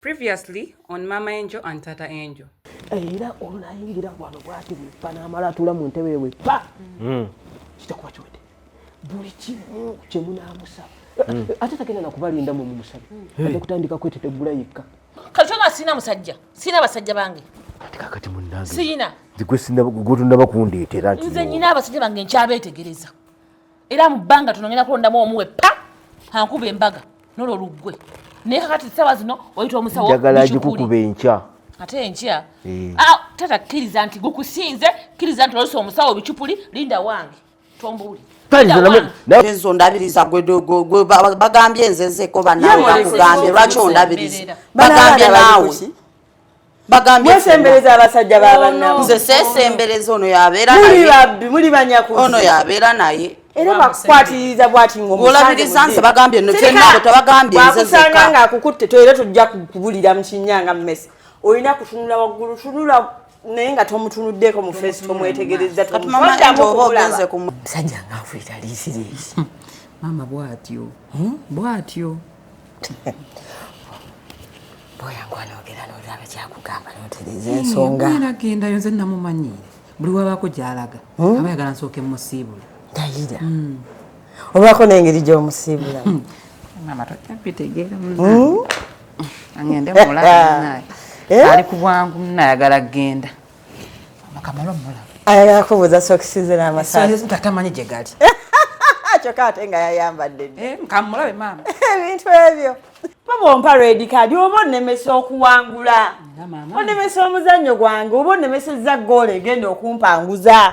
previously on mama angel and tata angel era olunayingira wano bwati bwepa namala atula mu ntebe ewe pa hmm. kitakuba kiwede buli kimu kyemunamusaba hmm. ate tagenda nakubalinda mu mumusabe hmm. ate kutandika kwetetegula yekka kati kyona sirina musajja sirina abasajja bange ati kakati munange sirina gwetunaba kundeetera nze nyina abasajja bange nkyabeetegereza era mu bbanga tono ngenda kulondamu omu we pa ankuba embaga nolwo luggwe naye kakati ssaawa zino oyita omusawo njagala agikukuba enkya ate enkya eh. ah, tata kkiriza nti gukusinze kkiriza nti olose omusawo bicupuli linda wange tombuuli nze ondabiriza bagambye nze nzeko banawe bakugambye lwaki ondabiriza bagambye naawe bagambye wesembereza abasajja babanna nze sesembereza ono yabeera muli babbi muli banyakuzi ono yabeera naye era bakukwatiriza bwati ngolabiriza nze bagambye no kyenabo tabagambye nze zeka nga akukutte toyera tujja kubulira mu kinyanga mmese olina kutunula waggulu tunula naye nga tomutunuddeko mu face tomwetegereza tomutodamukuulaba musajja nga nfuitaliisiriisi maama bwatyo hmm? bwatyo agendayo nze namumanyiire buli wabaako gyalaga hmm? aba yagala nsooke musiibula dayira hmm. obaako nengeri gyomusiibula hmm. mama tokyabitegeera agende mulaa eh? ali ku bwangu nayagala kugenda Makamala mmola. Ayagala kubuuza sokisi ze n'amasaati. Sokisi tamanyi gye gali. Kyokka ate nga yayambadde. Eh, kamulabe maama. Ebintu ebyo. Baba ompa red card oba onnemesa okuwangula. Onnemesa omuzannyo gwange oba onnemesezza ggoolo egenda okumpanguza.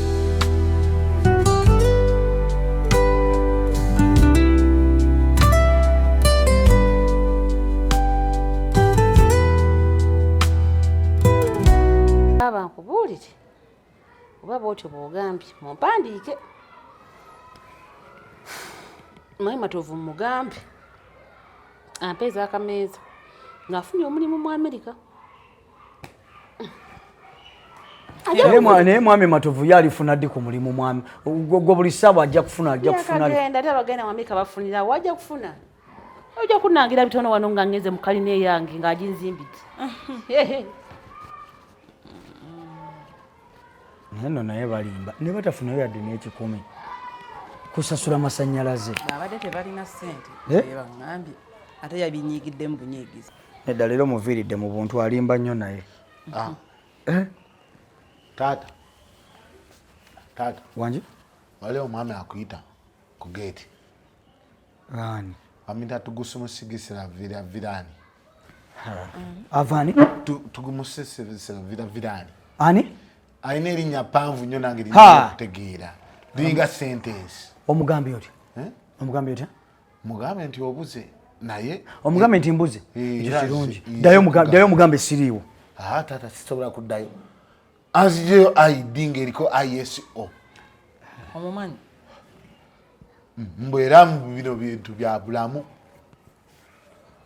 bwotyo bwogambye mumpandiike mayi matovu mugambe ampeeza akameeza ng'afunye omulimu mu amerika naye mwami matovu ye alifuna ddi ku mulimu mwami gwe buli ssaawa ajja kufuna ajja kufunagenda ate abagenda wamika bafunira wajja kufuna ojja kunangira bitono wano nga ngeze mu kalina eyange nga aginzimbidde naye no naye balimba ne batafunayo yadde n'ekikumi kusasula masannyalaze abadde tebalina ssente eh? bangambye ate yabinyigiddemu bunyigizi Nedda leero muviiridde mu buntu alimba nnyo naye. Ah. Eh? Taata. Taata. Wangi? Wale omwami akuyita ku geeti. Ani? Amita tugusumusigisira vira virani. Avani? Tugumusigisira vira virani. Ani? Alina erinnya ppanvu nnyo nange lirina okutegeera. Liringa sentensi. Omugambye otya? Eh? Omugambye otya? mugambe nti obuze naye omugambe nti mbuze eh, ekyo kirungi dayo omugambe siriiwo ah, taata sisobola kuddayo azijeyo id ngaeriko iso omumanyi mm, mbu era mu bino bintu bya bulamu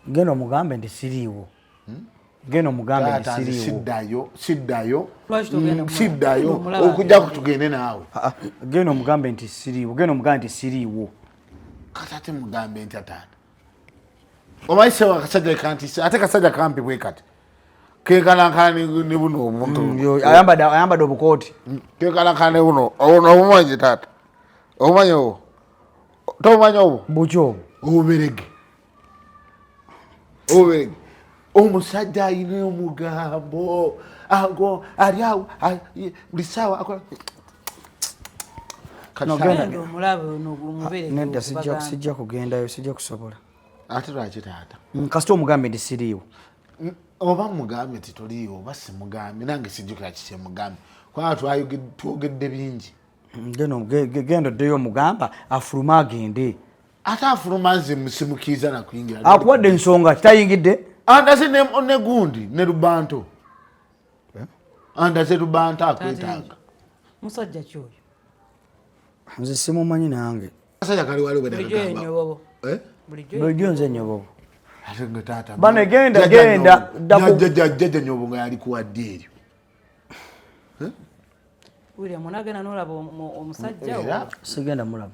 genda omugambe nti siriiwo hmm? geno mugambe siddayo siddayo mm, siddayo okujja ku tugende naawe ah, ah, geno mugambe nti siriiwo geno mugambe nti siriiwo kata ate mugambe nti ataata omanyi sewa kasajja kanti ate kasajja kampi bwe kati kekalankana ne buno obuntu mm, ayambadde obukooti mm, kekalankana ne buno obumanyi taata obumanyi obwo tobumanyi obwo buki obwo obuberege Owe omusajja alina omugambo ago ali awo buli saawa akola nedda sijja kugendayo sijja kusobola ate lwaki taata mm, kasita omugambe nti siriiwo mm, oba mugambe nti toliiwo oba simugambe nange sijjukira kikyemugambe kubanga twogedde bingi mm, genda oddeyo omugamba afulume agende ate afuluma nze musimukiiza nakuyingira akuwadde ensonga kitayingidde andaze negundi ne lubanto eh? andaze lubanto akwetanga musajja kyoyo nze simumanyi nange kasajja kali wali webulijjo eh? nze nyobobo bane genda genda jajja nyobo nga yali kuwadde eryo eh? sigenda mulaba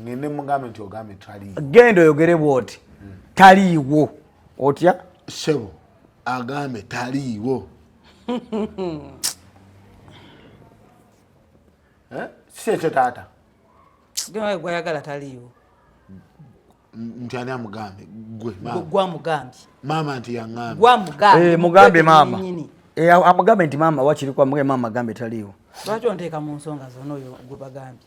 ngende mugambe nti ogambe taliiwo genda oyogere bwoti taliiwo otya sebo agambe taliiwo eh? si ekyo taata gwayagala taliiwo nti ani amugambye gwegwamugambye maama nti yangambemugambye eh, maama Eh, amugambe nti maama wakiri kwamuge maama agambe taliiwo lwaki onteeka mu nsonga zona oyo gwebagambye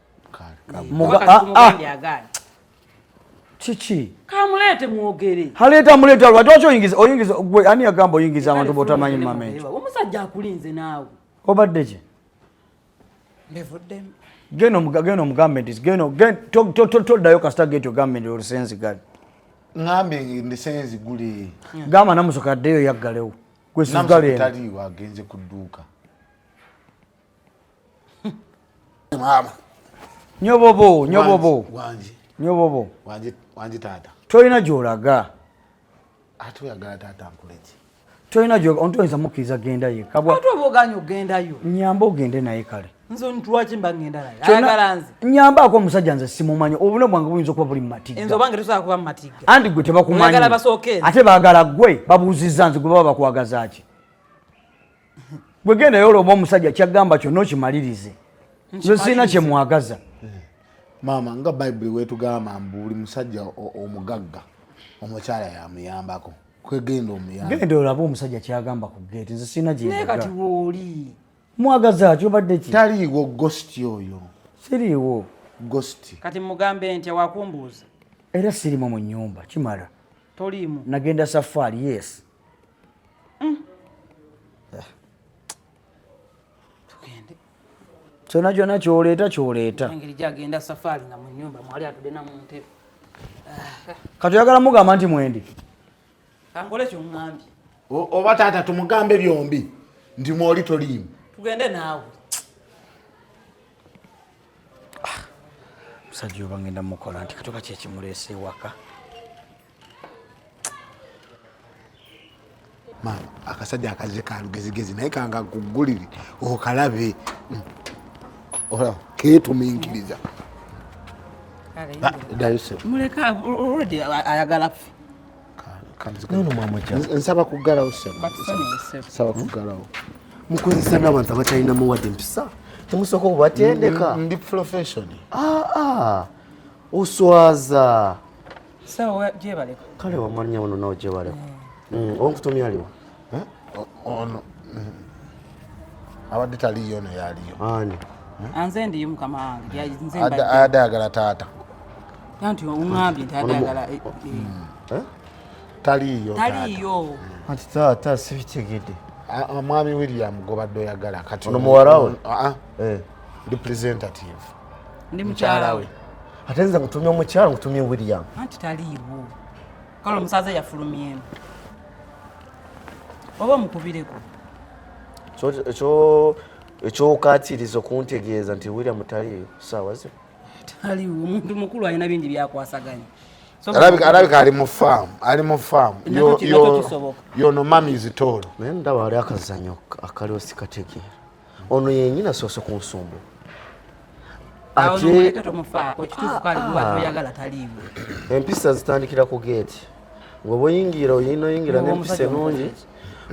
Ah, ah. kiki kamuleete mwogere haleeta muleeta lwaki waki oyingiza oyingiza gwe ani yagamba oyingiza abantu botamanyi mumamenti omusajja akulinze naawe obadde ki genda omugambe nti toddayo kasita geti ogambe nti olusenzi gali ngambe ndisenzi gule gamba namusoka addeyo yaggalewo gwesigaleagenze ku dduuka maama nyobobo nyobobo wangi nyobobo wangi wangi taata tolina gyolaga ate oyagala taata nkuleki tolina gyoga ontu oyinza mukkiriza genda ye kabwaate oba oganye okugendayo nyamba ogende naye kale nze ntwaki mba ngenda naye ayagala nze nyambaako omusajja nze simumanyi obulamu bwange buyinza okuba buli mumatigga nze obange tosobola kuba mumatigga andi gwe tebakumanyi ate baagala gwe babuuzizza nze gwe baba bakwagaza ki gwe genda yola oba omusajja kyagamba kyonna okimalirize nze sirina kyemwagaza maama nga bayibuli wetugamba mbu buli musajja omugagga omukyala yamuyambako kwegenda omuyambagenda olaba omusajja kyagamba ku geeti nze sirina gyekati wooli mwagaza kyobadde ki taliiwo gositi oyo siriiwo gositi kati mugambe nti awakumbuuza era sirimu mu nyumba kimala toliimu nagenda safaari yes Mm. Eh. kyona kyona kyoleeta kyoleeta katoyagala mugamba nti mwendi oba taata tumugambe byombi ndi mwoli toliimu tugende naawe ah, musajja oba ngenda mukola nti katoka kyekimuleese ewaka maama akasajja akazze ka lugezigezi naye kanga kugulire okalabe olaba keetuminkiriza nsaba kugalawo nsaba kugalawo mukozesa n'abantu abatalina muwadde mpisa temusooka okubatendeka ndi profession ah, ah. oswaza sawa jebaleko kale wamanya ono nawe jebaleko eh. mm, onkutumya aliwa eh? ono mm. abadde taliyo ono yaliyo ani eh? anze ndiyo mukama wange ayadde ayagala taata anti ongambye nti ayadde ayagala mm. taliyo taliyo anti taata sibitegedde mwami william gobadde oyagala kati ono muwarawo ah, ah. ndi presentative ndi mukyala we ate nze nkutumye omukyala nkutumye william anti taliiwo kale omusaza yafulumyemu oba omukubireko ekyokaatiriza okuntegeeza nti william taliiyo saawa zino taliiwo omuntu mukulu alina bingi byakwasaganya alabika ali mu faamu ali mu faamu yono mami zitoolo naye ndaba ali akazanyo akaliwo sikategeera ono yenyina soso ku nsumbu ah, ah. empisa zitandikira ku geeti weba oyingira oyina oyingira nempisa enungi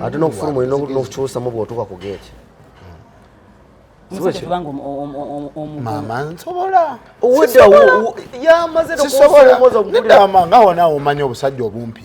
ate nokufuluma olina nokukyusamu bwotuuka ku geeti mama nsobola yamaze nokusobola omanya obusajja obumpi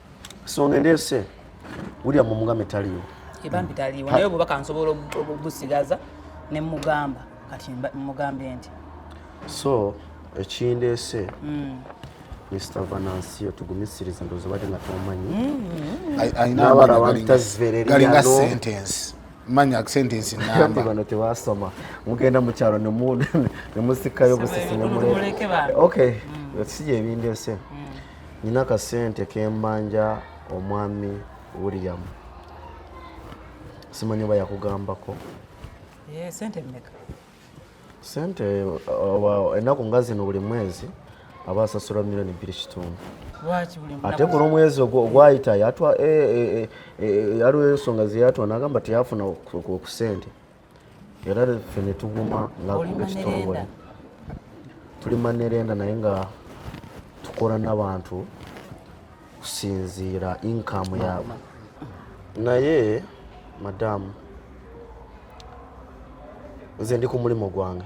so nendese william omugambe taliwo ebambi taliwo naye obubaka nsobola obusigaza ne mugamba kati mugambe nti so ekindese mm. Mr. Vanancio tugumisiriza ndozo bade nga tomanyi mm. ayina abara wantazvereri galinga sentence manya sentence namba bano tewasoma mugenda mu kyalo ne mu ne musikayo busisi ne muleke okay mm. siye bindese mm. Nina ka sente kembanja omwami William. Simanyi oba yakugambako. Eh, sente mmeka? Sente uh, ennaku nga zino buli mwezi aba asasula milioni bbiri kitundu ate ku lwomwezi ogwayita yatwa yaliwo eh, eh, eh, ensonga zeyatwa nagamba teyafuna ku sente era ffe ne tuguma nga ekitongole tuli manerenda naye nga tukola n'abantu kusinziira inkamu yaabwe naye madamu nze ndi ku mulimu gwange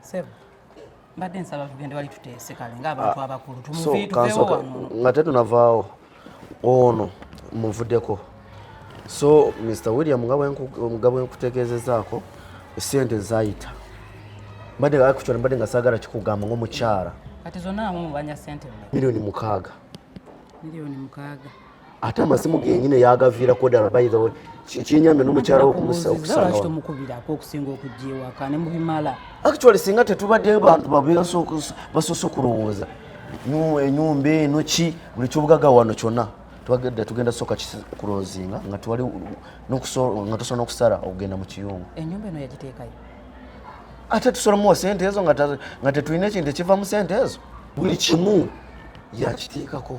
Sebo. Mbadde nsaba tugende wali tuteese kale ng'abantu ah, abakulu tumuviituvewo wano. Nga tetunavaawo ono muvuddeko. So Mr. William nga bwenkutegeezezaako ssente zaayita. Mbadde actually mbadde nga saagala kikugamba ng'omukyala. Kati zonna amu mubanja ssente. Milioni mukaaga. Milioni mukaaga. ate amasimu genyini yagaviirako ddala by the way kyenyambe nomukyala wokumusaukusangaomukubirako okusinga okujja ewaka ne mubimala actually singa tetubadde bantu basoose okulowooza enyumba eno ki buli kyobugaga wano kyona twagedde tugenda soka kulozinga nga twali nga tusobola nokusala okugenda mu kiyungu enyumba eno yagiteekayo ate tusolamuwa sente ezo nga tetulina ekintu ekiva mu sente ezo buli kimu yakiteekako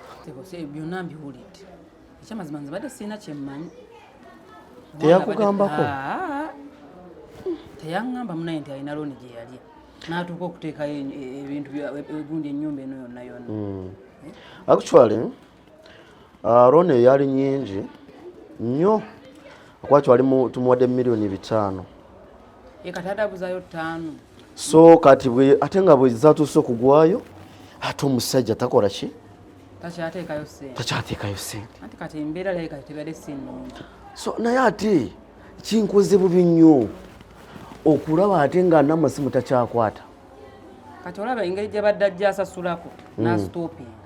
byonna mbiwulidde ekyamazima nze badde sirina kyemmanyi teyakugambako teyaŋŋamba munaye nti alina looni gye yali n'atuuka okuteekayo e- e- ebintu egundi ennyumba eno yonna yonna hmm. eh? actually uh, looni eyo yali nyingi nnyo akwaki wali tumuwadde miliyoni bitaano ekatadabuzayo ttaano so kati bwe ate nga bwe zatuuse okugwayo ate omusajja takola ki takyateekayo sente takyateekayo sente ati kati embeera leka tebadde si nnungi so naye ate kinkoze bubi nnyo okulaba ate nga namasimu takyakwata kati olaba engeri gyabadde ajja asasulako hmm. nasitopinga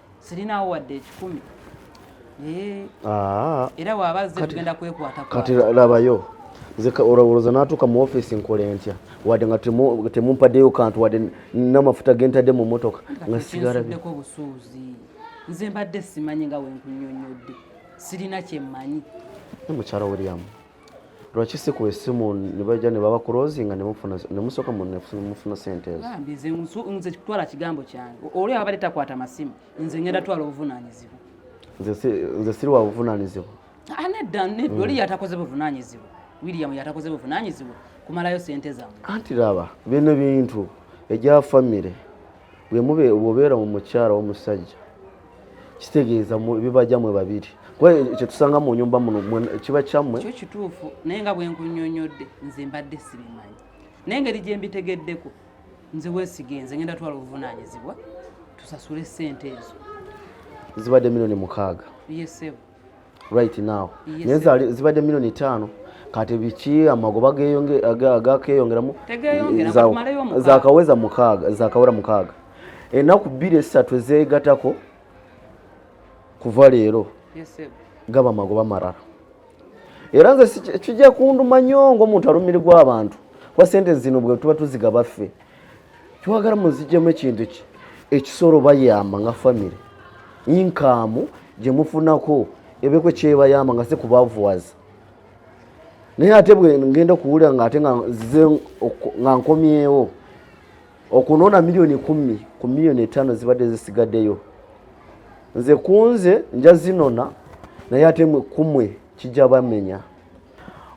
sirinaawo wadde ekikumi ah. era waaba azze tugenda kwekwata kati labayo olowooza natuuka mu ofiisi nkola entya wadde nga temumpadeyo kantu wadde namafuta gentadde mu motoka nga sigarabeko obusuuzi nze mbadde simanyi nga wenkunyonyodde sirina kyemmanyi mukyala williamu lwaki si ku esimu nebaja nebaba kurozinga nemusoka mufuna sente ezoze kutwala kigambo kyange oli abadde takwata masimu nze ngenda twala obuvunanyizibwa nze siri wa buvunanyizibwa ah, nedda nedda oli mm. yatakoze buvunanyizibwa william yatakoze buvunanyizibwa kumalayo sente zamu anti laba bino bintu egya famire bwemube bwobeera mu mukyala womusajja kitegeeza bibajja mwe babiri kuba kyetusanga mu nyumba muno kiba kyammwe kyo kituufu naye nga bwenkunyonyodde nze mbadde sibimanyi naye ngeri gyembitegeddeko nze wesigenze ngenda twala obuvunanyizibwa tusasule sente ezo zibadde milioni mukaaga yesebo right now naye zibadde milioni ttaano kati biki amagoba gakeyongeramu zakaweza mukaaga zakawera mukaaga enaku bbiri esatu ezegatako kuva leero gaba amagoba marara era nze kijja kunduma nyo ngaomuntu alumirirwa abantu kuba sente zino bwe tuba tuzigabaffe twagala muzijemu ekintu ki ekisolo bayamba nga famire inkaamu gye mufunako ebeko kyebayamba nga si kubavuwaza naye ate bwe ngenda okuwulira nga ate nga nzize nga nkomyewo okunoona miliyoni kumi ku miliyoni etaano zibadde zisigaddeyo nze kunze nja zinona naye ate kumwe kijja bamenya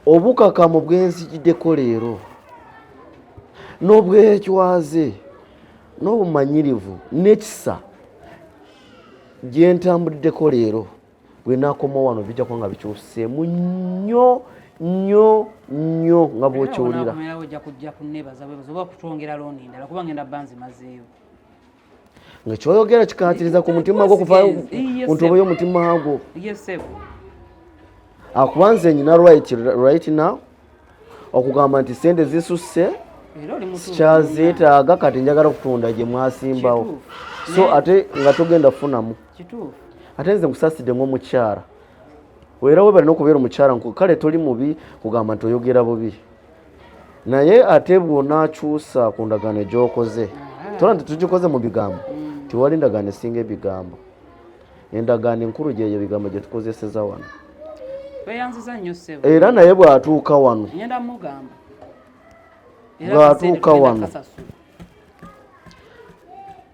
obukakamu bwenzijiddeko leero n'obwecwaze n'obumanyirivu n'ekisa gyentambuddeko leero bwenakoma wano bijja kuba nga bikyuseemu nnyo nnyo nnyo nga bwokiwulira nga kyoyogera kikatiriza ku mutima gwo kuvayo kuntobo y'omutima gwo akuba nze nyina right, right now okugamba nti sente zisusse sikyazeetaaga kati njagala okutunda gye mwasimbawo so ate nga togenda kufunamu ate nze nkusaside ngaomukyala era webale nokubeera omukyala kale toli mubi kugamba nti oyogera bubi naye ate bw'onaakyusa ku ndagaano egyokoze tola nti tugikoze mu bigambo mm. tiwali ndagaano esinga ebigambo endagaano enkulu gyeyo bigambo gye tukozeseza wano era naye bw'atuuka wano bw'atuuka wano